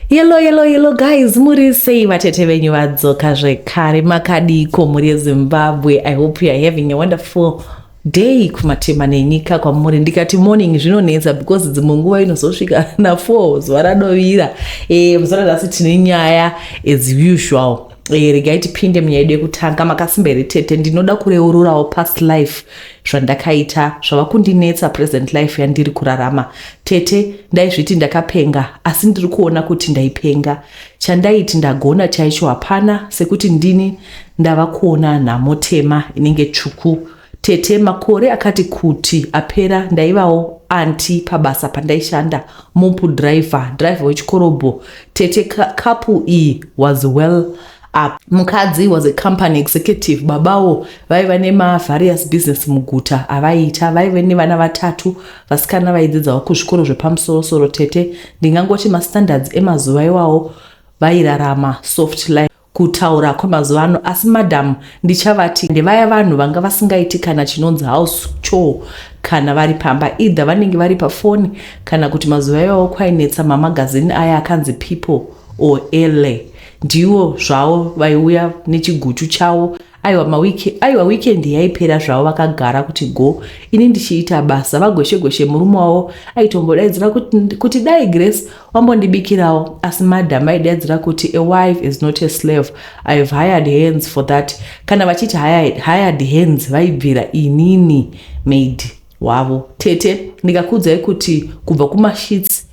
Yelo yelo yelo guys muri sei vatete venyu vadzoka zvekare makadiiko mhuri yezimbabwe i hope youare having a wonderful day kumatema nenyika kwamuri ndikati morning zvinonetsa because dzimwe nguva inozosvika na4 zuva radovira e, eh, muzora nhasi tine nyaya as usual Eh, regai tipinde munyaya yedu yekutanga makasimba here tete ndinoda kureururawo past life zvandakaita zvava kundinetsa present life yandiri kurarama tete ndaizviti ndakapenga asi ndiri kuona kuti ndaipenga chandaiti ndagona chaicho hapana sekuti ndini ndava kuona nhamo tema inenge tsvuku Tete, makore akati kuti apera ndaivawo anti pabasa pandaishanda mopu driver, driver wechikorobho. Tete, kapu iyi was well up. Mukadzi was a company executive, babawo vaiva nemavarious business muguta avaiita. Vaive nevana vatatu vasikana vaidzidzawo kuzvikoro zvepamusorosoro. Tete, ndingangoti mastandards emazuva iwawo vairarama soft life. kutaura kwemazuva ano asi madam ndichavati ndevaya vanhu vanga vasingaiti kana chinonzi house choo kana vari pamba either vanenge vari pafoni kana kuti mazuva iwawo kwainetsa mamagazini aya akanzi people or ele ndiwo zvawo vaiuya nechiguchu chawo aiwa mawiki aiwa weekend yaipera zvavo vakagara kuti go ini ndichiita basa vagweshe gweshe murume wavo aitombodaidzira kuti, kuti dai grace wambondibikirawo asi madam aidaidzira kuti a wife is not a slave i have hired hands for that kana vachiti hired, hired hands vaibvira inini maid wavo tete ndikakuudzai kuti kubva kumashits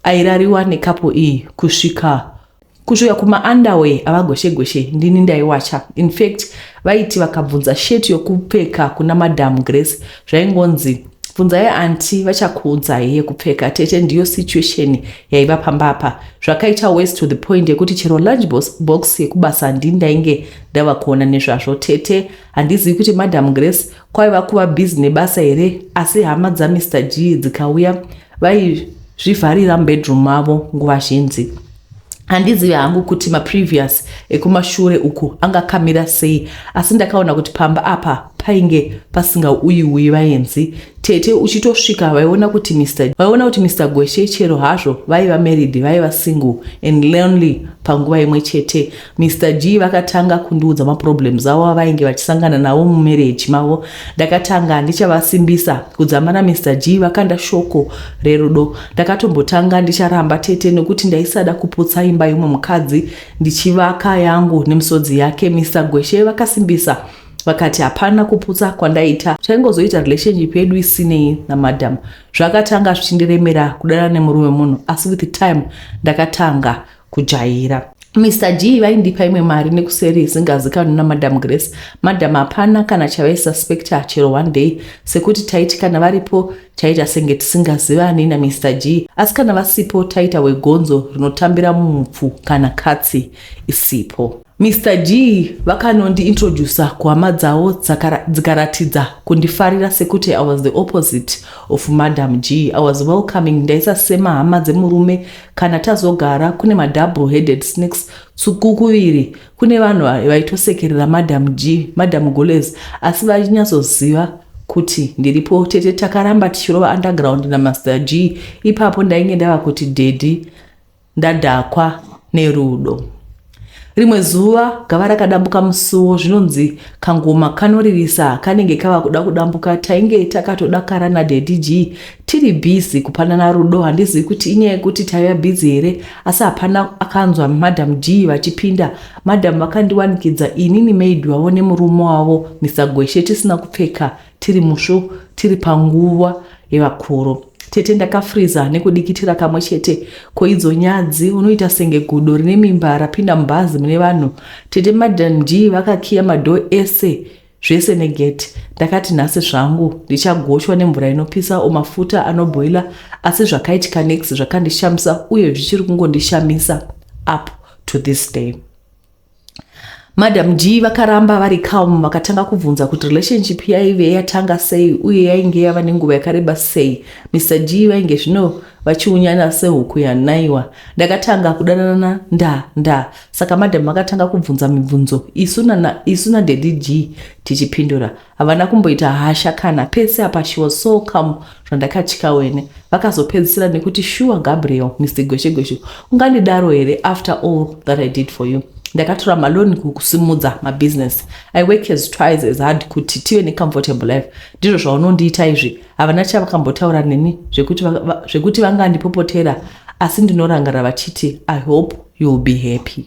airariwa nekapo iyi kusvika kusvika kumaunderwear avagoshegoshe ndini ndaiwacha infact vaiti vakabvunza sheti yokupfeka kuna madam grace zvaingonzi bvunzai anti vachakuudzai yekupfeka tete ndiyo situation yaiva pamba apa zvakaita wes to the point yekuti chero lunch box yekubasa ndi ndainge ndava kuona nezvazvo tete handizivi kuti madam grace Kwaiva kuva busy nebasa here asi hama dzaMr Gee dzikauya vaizvivharira mubedroom mavo nguva zhinji. Handizivi hangu kuti maprevious ekumashure uku angakamira sei asi ndakaona kuti pamba apa painge pasingauyiuyi vaenzi tete uchitosvika vaiona kuti Mr vaiona kuti Mr Gweshe chero hazvo vaiva married vaiva single and lonely panguva imwe chete Mister Gee vakatanga kundiudza maproblems avo avainge vachisangana navo mumarriage mavo. Ndakatanga handichavasimbisa. Kudzamba naMister Gee vakanda shoko rerudo. Ndakatombotanga ndicharamba tete nekuti ndaisada kuputsa imba yemumwe mukadzi ndichivaka yangu nemisodzi yake. Mister Gweshe vakasimbisa vakati hapana kuputsa kwandaita taingozoita relationship yedu isinei namadam zvakatanga zvichindiremera kudana nemurume munhu asi with time ndakatanga kujaira Mr G vaindipa imwe mari nekuseri isingazikanwi namadam Grace. Madam hapana kana chavaisuspecta chero one day sekuti taiti kana varipo taita senge tisingazivani naMr G asi kana vasipo taita wegonzo rinotambira mupfu kana katsi isipo. Mister Gee vakanondi introducer kuhama dzavo dzikaratidza kundifarira sekuti I was the opposite of Madam Gee. I was welcoming ndaisa sema hama dzemurume kana tazogara kune ma double headed snakes tsuku kuviri kune vanhu vaitosekerera Madam Gee, Madam Gulez asi vainyatsoziva kuti ndiripo tete takaramba tichirova underground na Master Gee ipapo ndainge ndava kuti daddy Ndadhakwa nerudo. Rimwe zuva gava rakadambuka musuwo zvinonzi kangoma kanoririsa kanenge kava kuda kudambuka tainge takatodakara nadaddy g tiri busy kupanana rudo handizivi kuti inyaya yekuti taiva busy here asi hapana akanzwa madam g vachipinda madam vakandiwanikidza inini maid vavo nemurume wavo mr gweshe tisina kupfeka tiri musvo tiri panguva yevakuru tete ndakafriza nekudikitira kamwe chete koidzo nyadzi unoita senge gudo rine mimba rapinda mubhazi mune vanhu tete madan g vakakiya madho ese zvese negeti ndakati nhasi zvangu ndichagochwa nemvura inopisa o mafuta anobhoila asi zvakaitika nex zvakandishamisa uye zvichiri kungondishamisa up to this day Madam G vakaramba vari calm vakatanga kubvunza kuti relationship yaive yatanga sei uye yainge yava nenguva yakareba sei. Mr G vainge zvino vachiunyana sehuku yanaiwa. Ndakatanga kudanana nda nda saka madam vakatanga kubvunza mibvunzo isu na isu na daddy G tichipindura. Havana kumboita hasha kana pese apa she was so calm zvandakatya wene. Vakazopedzisira nekuti shuwa Gabriel Mister Gweshe Gweshe ungandidaro here after all that I did for you. Ndakatora maloni kukusimudza mabusiness. I work as twice as hard kuti tive necomfortable life. Ndizvo zvaunondiita izvi. Havana chavakambotaura neni zvekuti, va, zvekuti vangandipopotera asi ndinorangarira vachiti I hope you will be happy.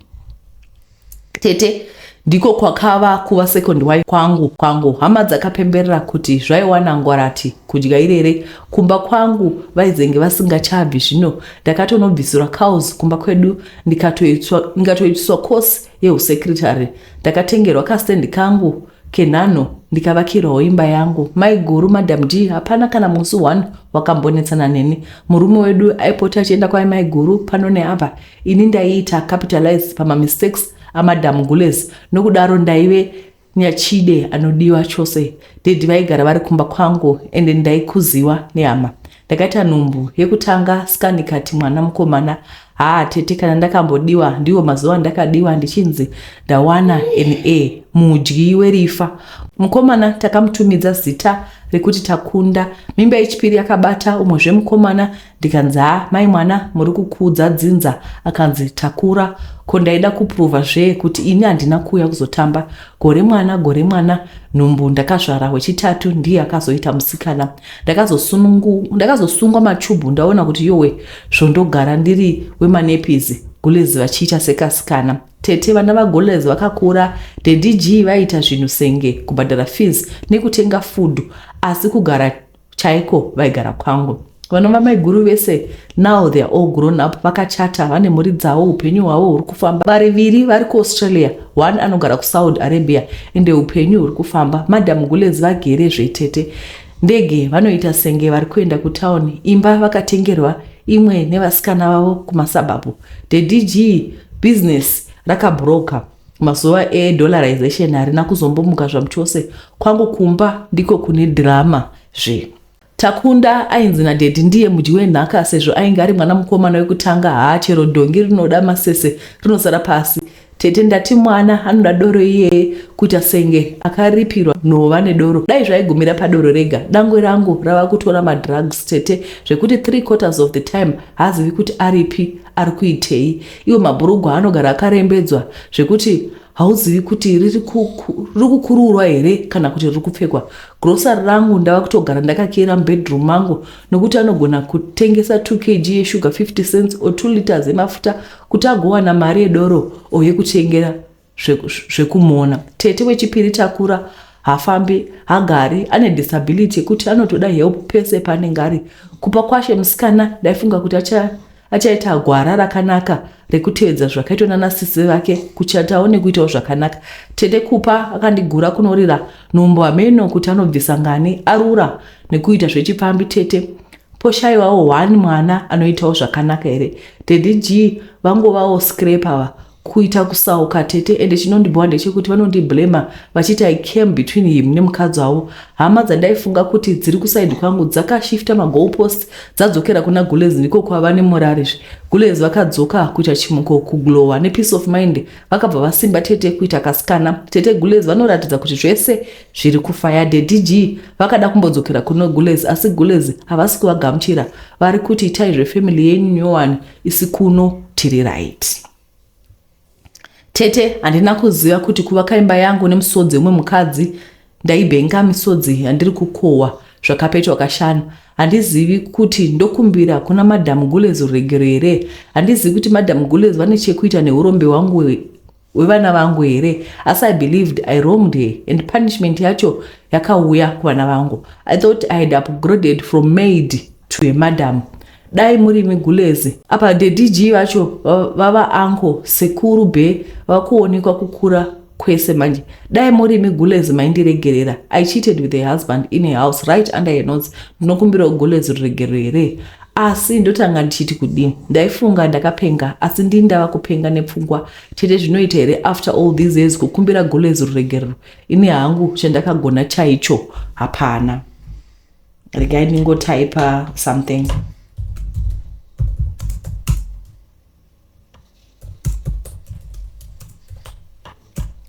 tete ndiko kwakava kuva second wife kwangu kwangu hama dzakapemberera kuti zvaiwana ngwarati kudya irere kumba kwangu vaizenge vasingachabvi zvino ndakatonobvisirwa cows kumba kwedu ndikatoitiswa course yeusekretary ndakatengerwa kastendi kangu kenhano ndikavakirwawo imba yangu maiguru madam d hapana kana musi one wakambonetsana neni murume wedu aipota achienda kwai maiguru pano neapa Ini ndaiita capitalize pamamistakes amadam Gules nokudaro ndaive nyachide anodiwa chose. Daddy vaigara vari kumba kwangu ende ndaikuziwa nehama. Ndakaita nhumbu yekutanga scan ikati mwana mukomana. Haa tete kana ndakambodiwa ndiwo mazuva ndakadiwa ndichinzi ndawana NA mudyi werifa. Mukomana takamutumidza zita rekuti Takunda. Mimba yechipiri yakabata umwe zvemukomana ndikanzi haa mai mwana muri kukuudza dzinza akanzi takura ko ndaida kupruvha zvee kuti ini handina kuuya kuzotamba gore mwana gore mwana nhumbu ndakazvara wechitatu ndiye akazoita musikana ndakazosungwa machubhu ndaona kuti yowe zvondogara ndiri wemanepizi gulezi vachiita sekasikana tete vana vagolez vakakura dedg vaiita zvinhu senge kubhadhara fees nekutenga food asi kugara chaiko vaigara kwangu vanova maiguru vese now they are all grown up vakachata vane mhuri dzavo upenyu hwavo huri kufamba variviri vari kuaustralia one anogara kusaudi arabia ende upenyu huri kufamba madam gulez vagere zvetete ndege vanoita senge vari kuenda kutauni imba vakatengerwa imwe nevasikana vavo kumasabhabhu the dg business rakabroka Mazuva e dollarization harina kuzombomuka zvamuchose. Kwangu kumba ndiko kune drama zve. Takunda ainzi na daddy ndiye mudyi wenhaka sezvo ainge ari mwana mukomana wekutanga haa chero dhongi rinoda masese rinosara pasi. Tete ndati mwana anoda doro iyeye kuita senge akaripirwa nhova nedoro dai zvaigumira padoro rega. Dangwe rangu rava kutora ma drugs tete zvekuti three quarters of the time haazivi kuti aripi ari kuitei. Iwo mabhurugwa anogara akarembedzwa zvekuti hauzivi kuti riri kukuruurwa here kana kuti riri kupfekwa grosari rangu ndava kutogara ndakakeera mubedroom mangu nokuti anogona kutengesa 2 kg yeshuga 50 cents or 2 liters emafuta kuti agowana mari yedoro or yekutengera zvekumona tete wechipiri takura hafambi hagari ane disability yekuti anotoda help pese paanenge ari kupa kwashe musikana ndaifunga kuti achaita gwara rakanaka rekutevedza zvakaitwa nana sisi vake kuchatawo nekuitawo zvakanaka tete kupa akandigura kunorira nhombo hameno kuti anobvisa ngani arura nekuita zvechipfambi tete poshaiwawo one mwana anoitawo zvakanaka here daddy g vangovawo scrapava kuita kusauka tete ende chinondibhowa ndechekuti vanondiblamer vachiti i came between him nemukadzi wavo hama dzandaifunga kuti dziri kuside kwangu dzakashifta magoal post dzadzokera kuna gulez ndiko kwava nemorari zve gulez vakadzoka kuita chimuko kuglowa nepeace of mind vakabva vasimba tete kuita kasikana tete gulez vanoratidza kuti zvese zviri kufaya dedg vakada kumbodzokera kuno gulez asi gulez havasi kuvagamuchira vari kuti itai zvefamily yenyu nyowani isi kuno tiri right tete handina kuziva kuti kuvaka imba yangu nemusodzi umwe mukadzi ndaibenga misodzi yandiri kukohwa zvakapetwa kashanu handizivi kuti ndokumbira kuna madam gules ruregero here handizivi kuti madam gules vane chekuita neurombe hwangu wevana vangu here asi i believed i wronged her and punishment yacho yakauya kuvana vangu i thought i had upgraded from maid to a madam dai muri migulezi apa dedg vacho vava anko sekuru be vakuonekwa kukura kwese manje dai muri migulezi maindiregerera i cheated with a husband in a house right under her notes ndinokumbirawo gulezi ruregerero here Asi ndotanga ndichiti kudii ndaifunga ndakapenga asi ndii ndava kupenga nepfungwa chete zvinoita here after all these years kukumbira gulez ruregerero ini hangu chandakagona chaicho hapana regai ndingotaipa something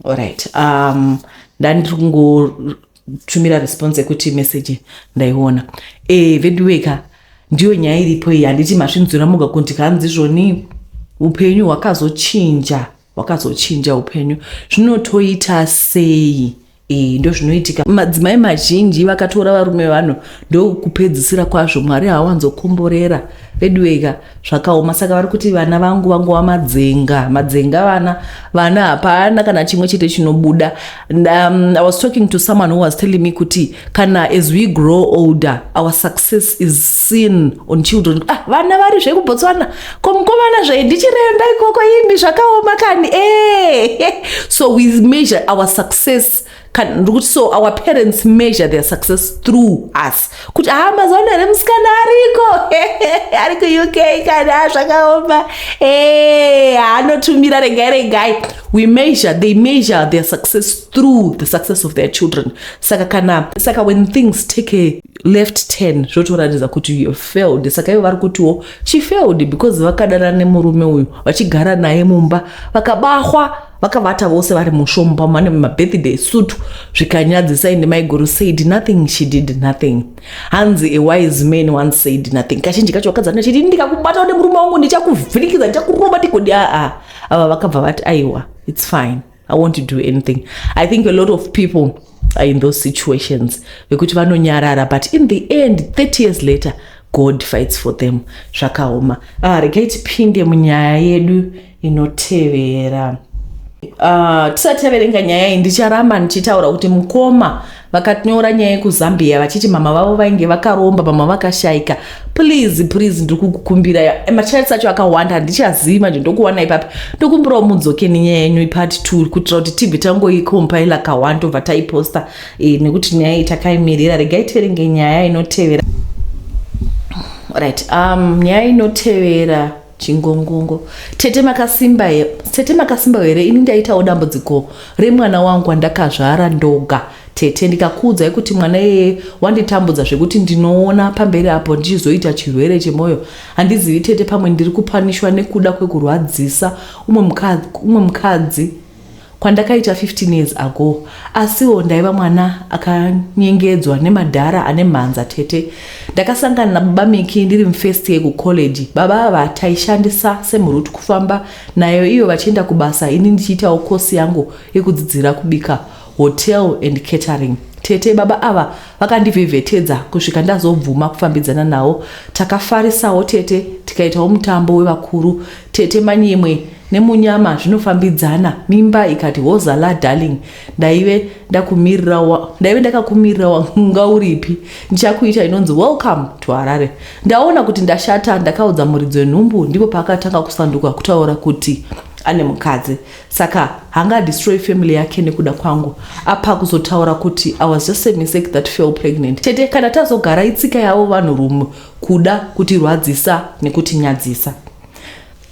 Alright. Um, ndandiri kungotumira response yekuti message ndaiona e, eh, veduweka ndiyo nyaya iripo iyi handiti masvinzura moga kuti kanzi zvoni upenyu hwakazochinja hwakazochinja upenyu zvinotoita sei Eh, ndozvinoitika madzimai mazhinji vakatora varume vanhu ndokupedzisira kwazvo mwari hawanzokomborera veduweka zvakaoma saka vari kuti vana vangu vangova madzenga madzenga vana vana hapana kana chimwe chete chinobuda um, i was talking to someone who was telling me kuti kana as we grow older our success is seen on children ah, vana vari zvekubotswana ko mukomana zvayi ndichirenda ikoko imi zvakaoma kani eh, so we measure our success ndikuti so our parents measure their success through us kuti haa ah, mazaona here musikana ariko ari kuuk kani a ah, zvakaoma eh, anotumira regai regai we measure they measure their success through the success of their children saka kana saka when things take a left turn zvotoratidza kuti you failed saka ivo vari kutiwo She failed because vakadana nemurume uyu vachigara naye mumba vakabahwa vakavata vose vari mushomba mane mabirthday sutu zvikanyadzisa ende maiguru said nothing she did nothing hanzi a wise man once said nothing kazhinji kacho vakadzi vanoda chiti ndikakubata nemurume wangu ndichakuvhinikidza ndichakurova tigodi aa ava vakabva vati aiwa its fine i want to do anything i think a lot of people are in those situations vekuti vanonyarara but in the end 30 years later god fights for them zvakaoma ah, regai tipinde munyaya yedu inotevera ah, tisati taverenga nyaya iyi ndicharamba ndichitaura kuti mukoma vakanyora nyaya yekuzambia vachiti mama vavo vainge vakaromba mama vakashaika please please ndiri kukukumbirai eh, machats acho akawanda handichazivi manje ndokuwana ipapi ndokumbirawo mudzoke nenyaya yenyu ipart two kuitira kuti tibve tangoikompaila kawani tobva taiposta e, nekuti nyaya iyi takaimirira regai tiverenge nyaya inotevera right um, nyaya inotevera Chingongongo. Tete makasimba here? Tete makasimba here? Ini ndaitawo dambudziko remwana wangu wandakazvara ndoga tete ndikakuudzai kuti mwana yeye wanditambudza zvekuti ndinoona pamberi apo ndichizoita chirwere chemwoyo handizivi tete pamwe ndiri kupanishwa nekuda kwekurwadzisa umwe mukadzi kwandakaita 15 years ago asiwo ndaiva mwana akanyengedzwa nemadhara ane mhanza tete ndakasangana nababa miki ndiri mufirst year kucollege baba ava taishandisa semurut kufamba nayo iyo vachienda kubasa ini ndichiitawo kosi yangu yekudzidzira kubika hotel and catering tete baba ava vakandivhevhetedza kusvika ndazobvuma kufambidzana nawo takafarisawo tete tikaitawo mutambo wevakuru tete manyimwe nemunyama zvinofambidzana mimba ikati hozala darling ndaive ndakumirira wa, ndaive ndakakumirira wanga uripi ndichakuita inonzi welcome to harare ndaona kuti ndashata ndakaudza muridzi wenhumbu ndipo paakatanga kusanduka kutaura kuti ane mukadzi saka hanga destroy family yake nekuda kwangu apa kuzotaura kuti i was just a mistake that fell pregnant tete kana tazogara itsika yavo vanhu rume kuda kutirwadzisa nekutinyadzisa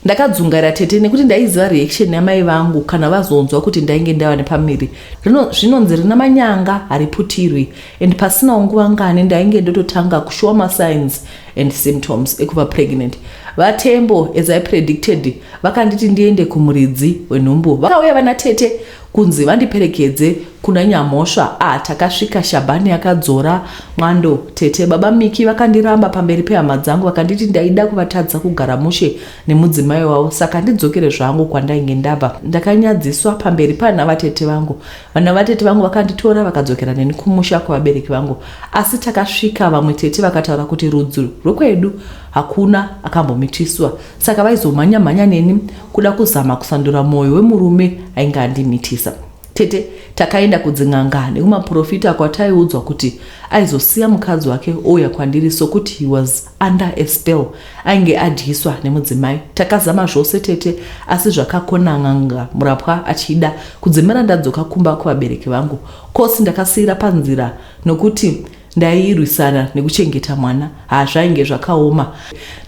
Ndakadzungaira tete nekuti ndaiziva reaction yamai vangu kana vazonzwa kuti ndainge ndava nepamiri. Rino zvinonzi rina manyanga hariputirwi and pasinawo nguva ngani ndainge ndototanga kushowa masigns and symptoms ekuva pregnant. VaTembo as I predicted vakanditi ndiende kumuridzi wenhumbu. Vakauya vana tete Kunzi vandiperekedze kuna Nyamhosva ah takasvika Shabani akadzora mwando tete baba Miki vakandiramba pamberi pehama dzangu vakanditi ndaida kuvatadza kugara mushe nemudzimai wavo saka ndidzokere zvangu kwandainge ndabva ndakanyadziswa pamberi pana vatete vangu vana vatete vangu vakanditora vakadzokera neni kumusha kwevabereki vangu asi takasvika vamwe tete vakataura kuti rudzi rwekwedu hakuna akambomitiswa saka vaizomhanya mhanya neni kuda kuzama kusandura mwoyo wemurume ainge andimitisa tete takaenda kudzin'anga nekumaprofita kwataiudzwa kuti aizosiya mukadzi wake ouya kwandiri sokuti he was under a spell ainge adyiswa nemudzimai takazama zvose tete asi zvakakona n'anga murapwa achida kudzimira ndadzoka kumba kuvabereki vangu kosi ndakasiyira panzira nokuti Ndairwisana nekuchengeta mwana haa zvainge zvakaoma.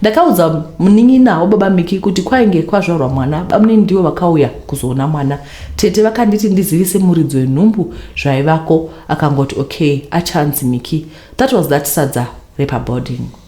Ndakaudza munin'ina wababa Miki kuti kwainge kwazvarwa mwana bamunini ndivo vakauya kuzoona mwana. Tete vakanditi ndizivise muridzi wenhumbu zvaivako akangoti okay achanzi Miki. That was that sadza repaboarding.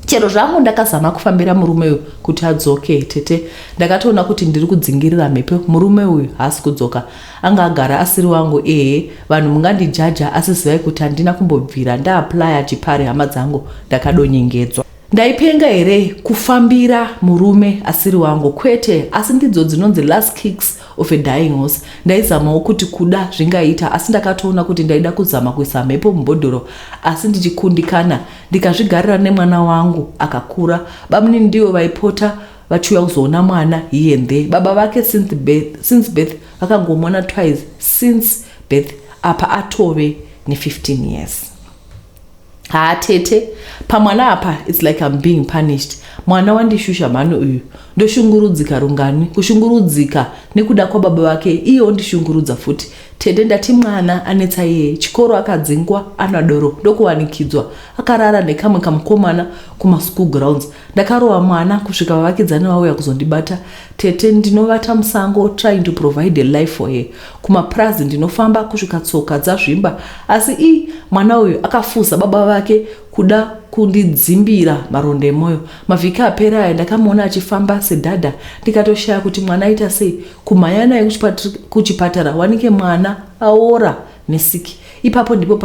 chero zvangu ndakazama kufambira murume uyu kuti adzoke tete ndakatoona kuti ndiri kudzingirira mhepo murume uyu haasi kudzoka anga agara asiri wangu ehe vanhu mungandijaja asi zivai kuti handina kumbobvira ndaaplya chipari hama dzangu ndakadonyengedzwa ndaipenga here kufambira murume asiri wangu kwete asi ndidzo dzinonzi last kicks of a dying horse ndaizamawo kuti kuda zvingaita asi ndakatoona kuti ndaida kuzama kuisa mhepo mubhodhoro asi ndichikundikana ndikazvigarira nemwana wangu akakura bamunini ndivo vaipota vachiuya kuzoona mwana here and there baba vake since birth, since birth vakangomona twice since birth apa atove ne15 years haa tete pamwana apa its like im being punished mwana wandishusha mhani uyu ndoshungurudzika rungani kushungurudzika nekuda kwababa vake iye ondishungurudza futi Tete ndati mwana anetsa iyeye chikoro akadzingwa ana doro ndokuwanikidzwa akarara nekamwe kamukomana kuma school grounds ndakarova mwana kusvika vavakidzani vauya kuzondibata tete ndinovata musango trying to provide a life for her kumapurazi ndinofamba kusvika tsoka dzazvimba asi i mwana uyu akafuza baba vake kuda kundidzimbira maronda emoyo. Mavhiki apera aya ndakamuona achifamba sedada ndikatoshaya kuti mwana aita sei. Kumhanya naye kuchipatara wanike mwana aora nesiki. Ipapo ndipo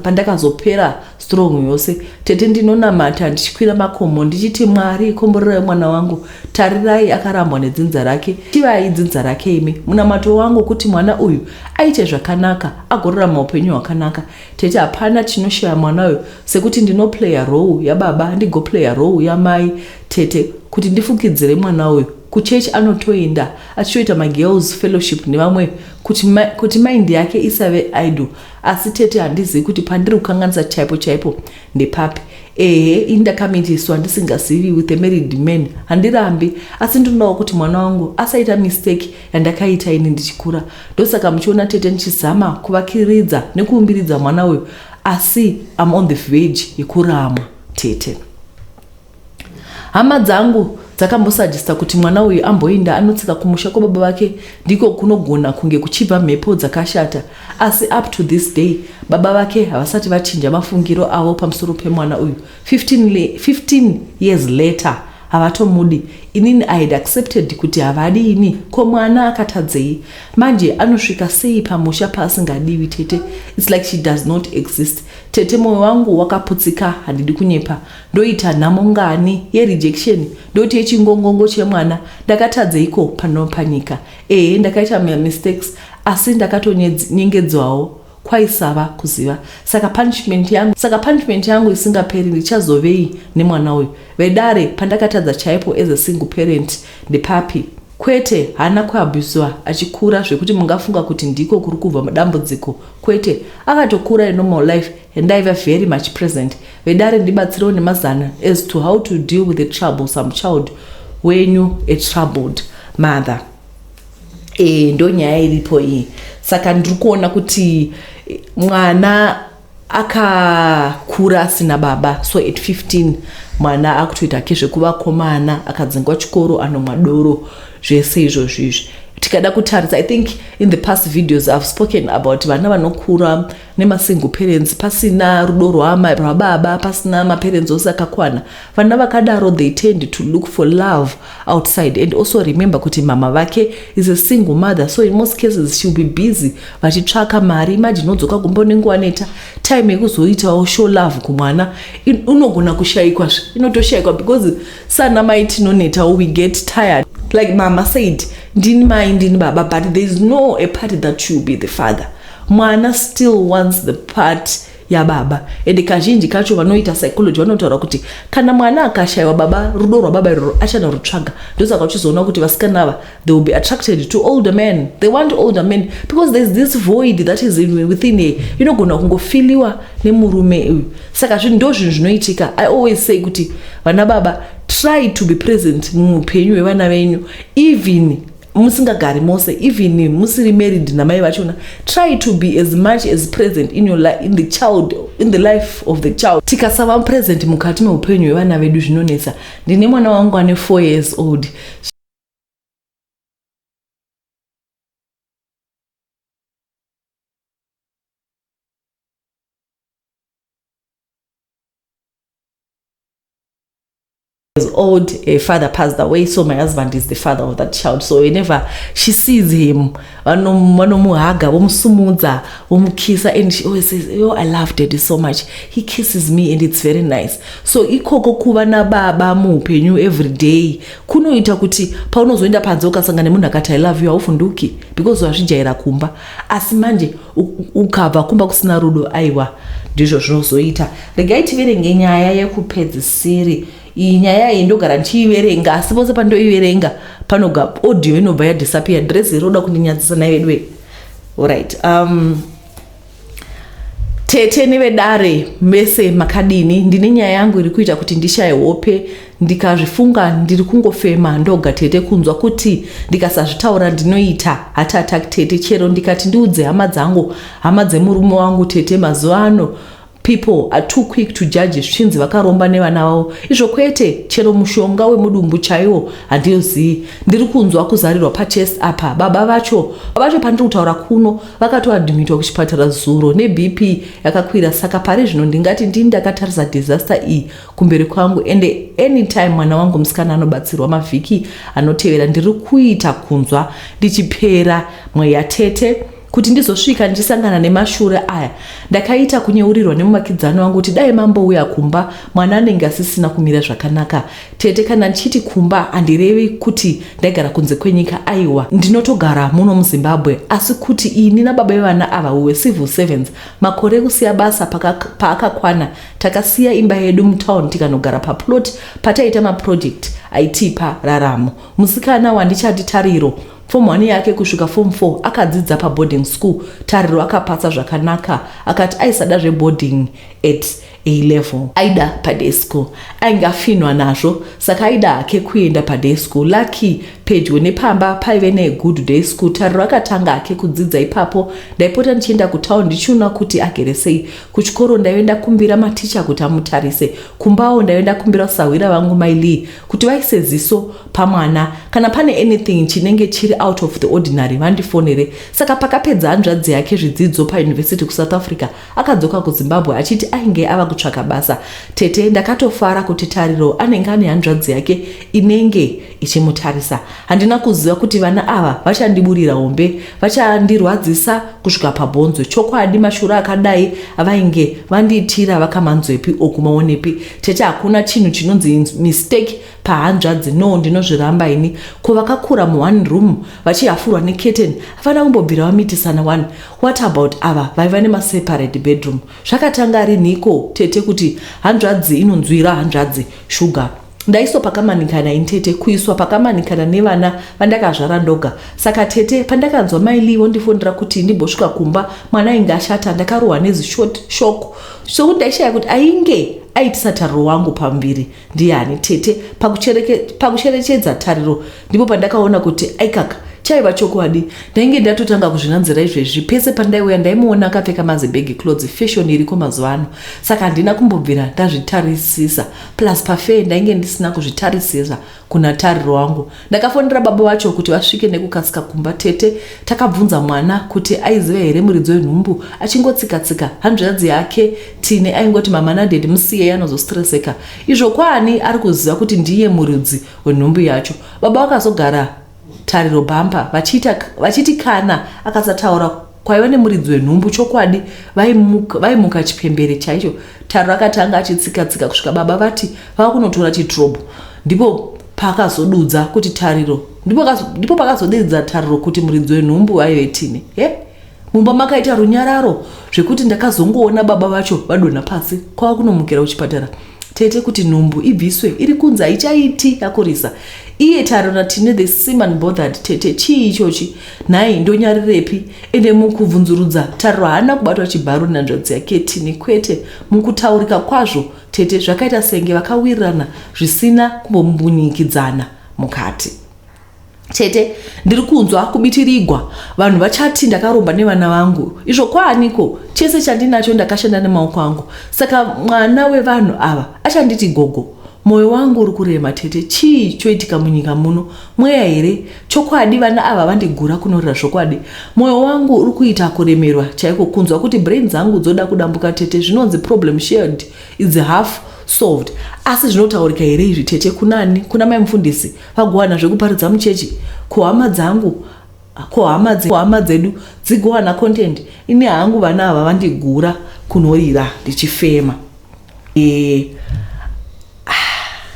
pandakazopera strong yose. Tete ndinonamata ndichikwira makomo ndichiti Mwari komborerai mwana wangu. Tarirai akarambwa nedzinza rake. Tivai dzinza rake imi. Munamato wangu kuti mwana uyu aite zvakanaka agorarama upenyu hwakanaka. Tete hapana chinoshaya mwana uyo sekuti ndinoplayer role yababa handigoplayer role yamai tete kuti ndifukidzire mwana uyo kuchurch anotoenda achitoita magirls fellowship nevamwe kuti, ma, kuti mind yake isave idle asi tete handizivi kuti pandiri kukanganisa chaipo chaipo ndepapi ehe ini ndakamitiswa ndisingazivi with a married man handirambi asi ndinodawo kuti mwana wangu asaita mistake yandakaita ini ndichikura ndosaka muchiona tete ndichizama kuvakiridza nekuumbiridza mwana uyu asi am on the vage yekuramwa tete hama dzangu dzakambosajista kuti mwana uyu amboinda anotsika kumusha kwababa vake ndiko kunogona kunge kuchibva mhepo dzakashata asi up to this day baba vake havasati vachinja mafungiro avo pamusoro pemwana uyu 15, le, 15 years later havatomudi inini i had accepted kuti havadi ini ko mwana akatadzei manje anosvika sei pamusha paasingadiwi tete its like she does not exist tete mwoyo wangu wakaputsika handidi kunyepa ndoita nhamo ngani yerejection ndoti yechingongongo chemwana ndakatatdzeiko pano panyika ehe ndakaita mamistakes asi ndakatonyengedzwawo kwaisava kuziva saka punishment yangu saka punishment yangu isingaperi ndichazovei nemwana uyu vedare pandakatadza chaipo as a single parent ndepapi kwete haana kuabusiwa achikura zvekuti mungafunga kuti ndiko kuri kubva mudambudziko kwete akatokura inormal life and aiva very much present vedare ndibatsirewo nemazana as to how to deal with a troublesome child wenyu a troubled mother e, ndo nyaya iripo iyi saka ndiri kuona kuti eh, mwana akakura asina baba so at 15 mwana akutoita ke zvekuvakomana akadzingwa chikoro anomwa doro zvese izvozvo izvi tikada kutarisa i think in the past videos ihave spoken about vana vanokura nemasingle parents pasina rudo rwaamai rwababa pasina maparents ose akakwana vana vakadaro they tend to look for love outside and also remember kuti mama vake is a single mother so in most cases she will be busy vachitsvaka mari imagine odzoka kumba unenguva neta time yekuzoitawo show love kumwana unogona kushayikwa zve inotoshayikwa because sana mai tinonetawo we get tired like mama said ndini mai ndini baba but there is no a party that you be the father Mwana still wants the part yababa and kazhinji kacho vanoita psychology vanotaura kuti kana mwana akashaiwa baba rudo rwababa iroro achanorutsvaga ndosaka uchizoona kuti vasikana ava they will be attracted to older men they want older men because there's this void that is in, within a inogona kungofiliwa nemurume uyu saka zvinhu ndo zvinhu zvinoitika i always say kuti vana baba try to be present muupenyu hwevana venyu even musingagari mose even musiri married namai vachona try to be as much as present in, your life, in the child in the life of the child tikasava present mukati meupenyu hwevana vedu zvinonetsa ndine mwana wangu ane 4 years old years old her father passed away so my husband is the father of that child so whenever she sees him vanomuhaga vomusumudza vomukisa and she always says yo i love daddy so much he kisses me and it's very nice so ikoko kuva nababa muupenyu every day kunoita kuti paunozoenda panze ukasanga nemunhu akati i love you hauvhunduki because wazvijaira kumba asi manje ukabva kumba kusina rudo aiwa ndizvo zvinozoita regai tiverenge nyaya yekupedzisiri iyi nyaya iyi ndogara ndichiiverenga asi pose pandoiverenga panoga audio inobva yadisappear dress iroda kundinyadzisa nai veduwe orit um, tete nevedare mese makadini ndine nyaya yangu iri kuita kuti ndishaye hope Ndikazvifunga ndiri kungofema ndoga tete kunzwa kuti ndikasazvitaura ndinoita heart attack tete chero ndikati ndiudze hama dzangu hama dzemurume wangu tete mazuva ano people are too quick to judge zvichinzi vakaromba nevana vavo izvo kwete chero mushonga wemudumbu chaiwo handiyozivi ndiri kunzwa kuzarirwa pachest apa baba vacho vacho pandiri kutaura kuno vakatoadhimitwa kuchipatara zuro nebp yakakwira saka pari zvino ndingati ndini ndakatarisa disaster iyi kumberi kwangu ende anytime mwana wangu musikana anobatsirwa mavhiki anotevera ndiri kuita kunzwa ndichipera mweya tete kuti ndizosvika ndichisangana nemashure aya ndakaita kunyeurirwa nemuvakidzani wangu kuti dai mambouya kumba mwana anenge asisina kumira zvakanaka tete kana ndichiti kumba handirevi kuti ndaigara kunze kwenyika aiwa ndinotogara muno muzimbabwe asi kuti ini nababa vevana ava uwe civil servants makore ekusiya basa paakakwana paka Takasiya imba yedu mutown tikanogara paplot pataiita maproject aitipa raramo. Musikana wandichati Tariro, form one yake kusvika form four akadzidza paboarding school. Tariro akapasa zvakanaka akati aisada zveboarding at A level. Aida paday school. Ainge afinhwa nazvo saka aida hake kuenda paday school. Lucky pedyo nepamba paive negood day school. Tariro akatanga hake kudzidza ipapo. Ndaipota ndichienda kutown ndichiona kuti agere sei. Kuchikoro ndaive ndakumbira maticha kuti amutarise. Kumbawo ndaive ndakumbira sahwira vangu mai Lee kuti vaise ziso pamwana kana pane anything chinenge chiri out of the ordinary vandifonere. Saka pakapedza hanzvadzi yake zvidzidzo pauniversity kuSouth Africa akadzoka kuZimbabwe achiti ainge ava kutsvaka basa. Tete ndakatofara kuti Tariro anenge ane hanzvadzi yake inenge ichimutarisa handina kuziva kuti vana ava vachandiburira hombe vachandirwadzisa kusvika pabhonzo chokwadi mashura akadai avainge vandiitira vakamanzwepi okumaonepi tete hakuna chinhu chinonzi mistake pahanzvadzi no ndinozviramba ini ko vakakura muone room vachihafurwa neketen havana kumbobvira vamitisana one what about ava vaiva nemaseparate bedroom zvakatanga rinhiko tete kuti hanzvadzi inonzwira hanzvadzi shuga Ndaiswa pakamanikana ini tete kuiswa pakamanikana nevana vandakazvara ndoga saka tete pandakanzwa mai Lee vondifonera kuti ndimbosvika kumba mwana ainge ashata ndakarohwa nezishort shoko zvekuti ndaishaya kuti ainge aitisa tariro wangu pamuviri ndiyani tete pakucherechedza tariro ndipo pandakaona kuti aikaka chaiva chokwadi ndainge ndatotanga kuzvinanzira izvezvi pese pandaiuya ndaimuona akapfeka mazibhegi clothes fashion iriko mazuva ano saka handina kumbobvira ndazvitarisisa plus pafair ndainge ndisina kuzvitarisira kuna tariro wangu ndakafonera baba vacho kuti vasvike nekukasika kumba tete takabvunza mwana kuti aiziva here muridzo wenhumbu achingotsikatsika hanzviradzi yake tine aingoti mama nadedi musiyei anozostreseka izvo kwaani ari kuziva kuti ndiye muridzi wenhumbu yacho baba vakazogara Tariro Bumper vachiita vachiti kana akasataura kwaiva nemuridzi wenhumbu chokwadi vaimuka, vaimuka chipembere chaicho. Tariro akatanga achitsikatsika kusvika baba vati vava kunotora chitrobho ndipo pakazodudza kuti Tariro ndipo, ndipo pakazodudza Tariro kuti muridzi wenhumbu vaive tine he Mumba makaita runyararo zvekuti ndakazongoona baba vacho vadonha pasi kwava kunomukira kuchipatara tete kuti nhumbu ibviswe iri kunzi haichaiti yakurisa iye taro natine the same unbothered tete chii ichochi nhai ndonyarirepi ende mukubvunzurudza taro haana kubatwa chibharo nenhanzvadzi yake tine kwete mukutaurika kwazvo tete zvakaita senge vakawirirana zvisina kumbombunyikidzana mukati tete ndiri kunzwa kubitirigwa vanhu vachati ndakaromba nevana vangu izvo kwaaniko chese chandinacho ndakashanda nemaoko angu saka mwana wevanhu ava achanditi gogo mwoyo wangu uri kurema tete chii choitika munyika muno mweya here chokwadi vana ava vandigura kunorira zvokwadi mwoyo wangu uri kuita kuremerwa chaiko kunzwa kuti brain dzangu dzoda kudambuka tete zvinonzi problem shared is half solved asi zvinotaurika here izvi tete kunani kuna mai mufundisi Vagowana zvekuparidza muchechi kuhama dzangu kuhama dzedu dzigowana content ini hangu vana ava vandigura kunorira ndichifema e, ah,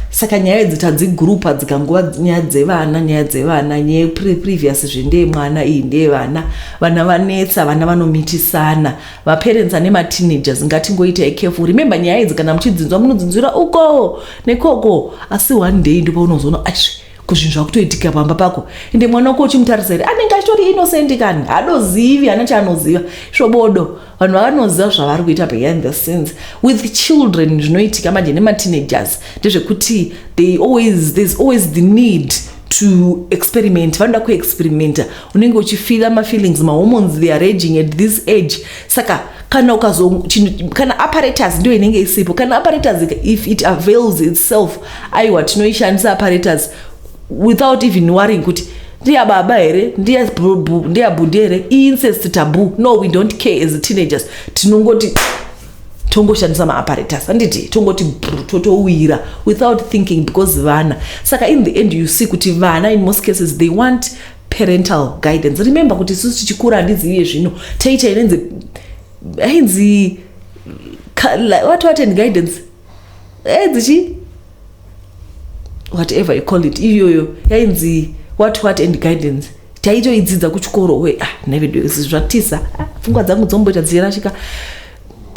saka nyaya idzi tadzigurupa dzikangova nyaya dzevana nyaya dzevana nyaya previous zve ndeye mwana iyi ndeye vana vana vanetsa vana vanomitisana vaparents ane mateenagers ngatingoita ekefu remember nyaya idzi kana muchidzinzwa munodzinzwira uko nekoko asi one day ndipo unozoona aisve kuzvinhu zvakutoitika pamba pako ende mwana wako uchimutarisa here anenge achitori innocent kani hadozivi hana chaanoziva svobodo vanhu vavanoziva zvavari kuita behind the scenes with children zvinoitika manje nemateenagers ndezvekuti they always there's always the need to experiment vanoda kuexperimenta unenge uchifila mafeelings mahormones they are raging at this age saka kana ukazo kana apparatus ndiyo inenge isipo kana apparatus if it avails itself aiwa tinoishandisa apparatus without even worrying kuti ndiya baba here ndiya bhudhi here incest tabu no we don't care as teenagers tinongoti tongoshandisa maapparatus handiti tongoti totowira without thinking because vana saka in the end you see kuti vana in most cases they want parental guidance remember kuti isusu tichikura handiziviye zvino taita inenzi ainzi what what and guidance ainzi chi whatever you call it iyoyo yainzi what what and guidance taitoidzidza kuchikoro we ah nevedu zvatisa ah, pfungwa dzangu dzomboita dzirashika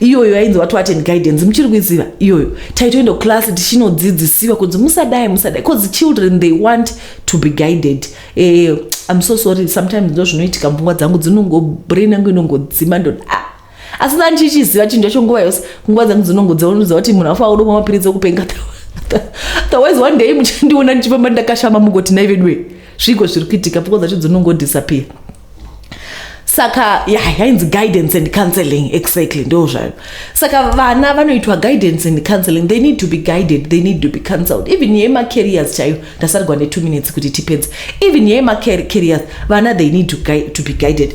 iyoyo yainzi wati wati and guidance muchiri kuiziva iyoyo taitoenda kuclass tichinodzidzisiwa kunzi musadai musadai bcause children they want to be guided eh, im so sorry sometimes ndo zvinoitika pfungwa dzangu dzinongobrain yangu inongodzima ndo ah. asi dani chichiziva chinhu chacho nguva yose pfungwa dzangu dzinongodzivaunudza kuti munhu afa udomwa mapiritsi okupenga otherwise one day muchandiona ndichifamba ndakashama mugoti naiveduwe zviko zviri kuitika pfungwa dzacho dzinongodisappear saka yeah, yainzi guidance and counseling exactly ndo zvayo saka vana vanoitwa guidance and counseling they need to be guided they need to be counseled even yemacarriers chaiyo ndasarigwa ne two minutes kuti tipedze even yemacarriers vana they need to, to be guided